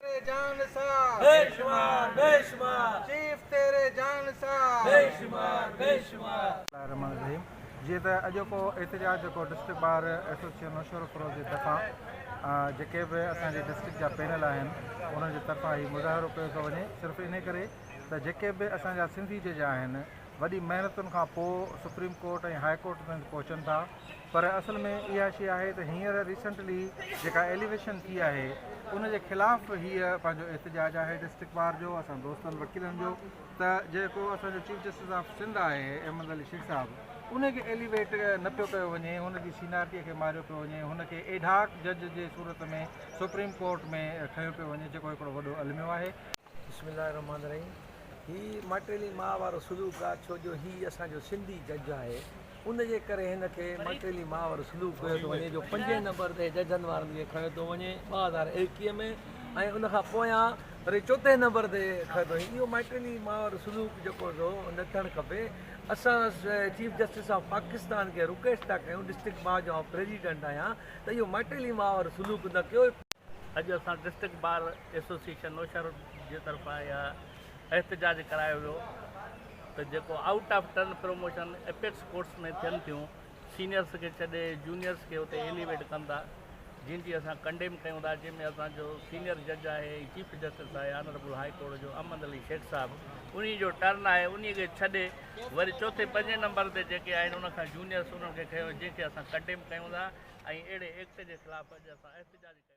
تيري جان نثار بي شمار بي شمار شيف تيري جان نثار بي شمار بي شمار. بسم الله الرحمٰن الرحيم جيئن ته اڄوڪو احتجاج جيڪو ڊسٽرڪٽ بار ايسوسيئن نوشهروفيروز جي طرفان جيڪي به اسان جي ڊسٽرڪٽ جا پينل آهن انهن جي طرفان هي مظاهرو ڪيو ٿو وڃي صرف انهي ڪري ته جيڪي به اسان جا سنڌي جج آهن وڏي محنتن کان پوء سپريم ڪورٽ ۽ هاء ڪورٽ تائين پهچن ٿا پر اصل ۾ اها شي آهي ته هينئر ريسنٽلي جيڪا ايليويشن ٿي آهي ان جي خلاف به هيء پنهنجو احتجاج آهي ڊسٽرڪٽ بار جو اسان دوستن وڪيلن جو ته جيڪو اسان جو چيف جسٽس آف سنڌ آهي احمد علي شيخ صاحب ان کي ايليويٽ نه پيو ڪيو وڃي هن جي سينارٽي کي ماريو پيو وڃي هن کي ايڊهاڪ جج جي صورت ۾ سپريم ڪورٽ ۾ کنيو پيو وڃي جيڪو هڪڙو وڏو الميو آهي. بسم الله الرحمٰن الرحيم هي ماٽيلي ماء وارو سلوڪ آ ڇو جو هي اسان جو سنڌي جج آهي ان جي ڪري هن کي ماٽيلي ماء وارو سلوڪ ڪيو ٿو وڃي جو پنجين نمبر تي ججن وارن کي کڻيو ٿو وڃي ٻه هزار ايڪيهه ۾ ۽ ان کان پويان وري چوٿين نمبر تي کڻيو ٿو اهو ماٽيلي ماء وارو سلوڪ جيڪو ٿو نه ٿيڻ کپي اسان چيف جسٽس آف پاڪستان کي رڪويسٽ ٿا ڪيون ڊسٽرڪٽ بار جو آئون پريزيڊنٽ آهيان ته اهو ماٽيلي ماء وارو سلوڪ نه ڪيو اڄ اسان ڊسٽرڪٽ بار ايسوسيئيشن نوشهرو جي طرفان اها احتجاج ڪرايو ويو ته جيڪو out of turn promotion apex courts ۾ ٿين ٿيون سينيئرس کي ڇڏي جونيئرس کي اتي ايليويٽ ڪن ٿا جن جي اسان ڪنڊيم ڪيون ٿا جن ۾ اسان جو سينيئر جج آهي ۽ چيف جسٽس آهي آنربل هاء ڪورٽ جو احمد علي شيخ صاحب ان جو ٽرن آهي ان کي ڇڏي وري چوٿين پنجين نمبر تي جيڪي آهن ان کان جونيئرس انهن کي کيو جن کي اسان ڪنڊيم ڪيون ٿا ۽ اهڙي ايڪٽ جي خلاف اڄ اسان احتجاج ڪيو آهي